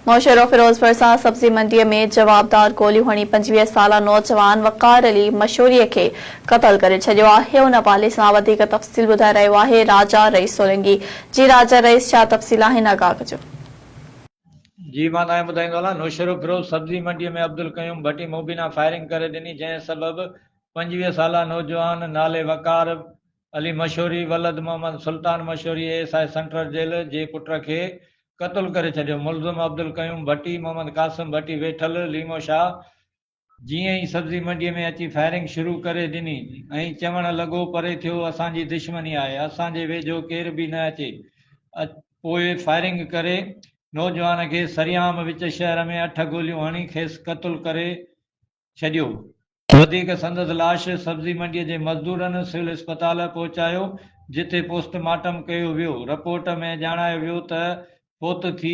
نوشهرو فيروزپور سان سبزي منڊيء ۾ جوابدار گوليون هڻي پنجويهه سالا نوجوان وقار علي مشوري کي قتل ڪري ڇڏيو آهي ان حوالي سان وڌيڪ تفصيل ٻڌائي رهيو آهي راجا رئيس سولنگي جي راجا رئيس ڇا تفصيل آهن آگاهه ڪجو. جي مان تهان کي ٻڌائيندو هلان نوشهرو فيروز سبزي منڊيء ۾ عبدالقيوم ڀٽي مبينا فائرنگ ڪري ڏني جنهن سبب پنجويهه سالا نوجوان نالي وقار علي مشوري ولد Muhammad Sultan Mashori A S I central jail جي پٽ کي قتل ڪري ڇڏيو ملزم عبدالقيوم ڀٽي محمد قاسم ڀٽي ويٺل ليمو شاهه جيئن ئي سبزي منڊي ۾ اچي فائرنگ شروع ڪري ڏني ۽ چوڻ لڳو پري ٿيو اسان جي دشمني آهي اسان جي ويجهو ڪير به نه اچي پوء فائرنگ ڪري نوجوان کي سرعام وچ شهر ۾ اٺ گوليون هڻي کيس قتل ڪري ڇڏيو. وڌيڪ سندس لاش سبزي منڊيء جي مزدورن سول اسپتال پهچايو، جتي پوسٽ مارٽم ڪيو ويو. رپورٽ ۾ ڄاڻايو ويو ته فوت ٿي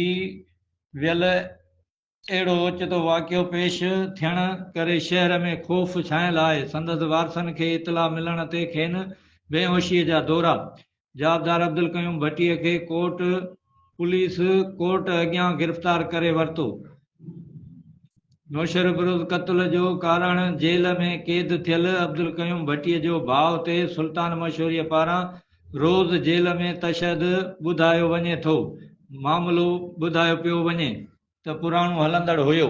ويل اهڙو اوچتو واقعو پيش ٿيڻ ڪري شهر ۾ خوف ڇانيل آهي. سندس وارثن کي اطلاع ملڻ تي کين بيهوشيء جا دورا جوابدار عبدالقيوم ڀٽي کي ڪوٽ پوليس ڪورٽ اڳيان گرفتار ڪري ورتو. نوشهروبروز قتل جو ڪارڻ جيل ۾ قيد ٿيل عبدالقيوم ڀٽي جو ڀاء تي سلطان مشوري پاران روز جيل ۾ تشهد ٻڌايو وڃي ٿو. معاملو ٻڌايو پيو وڃي ته پراڻو هلندڙ هيو.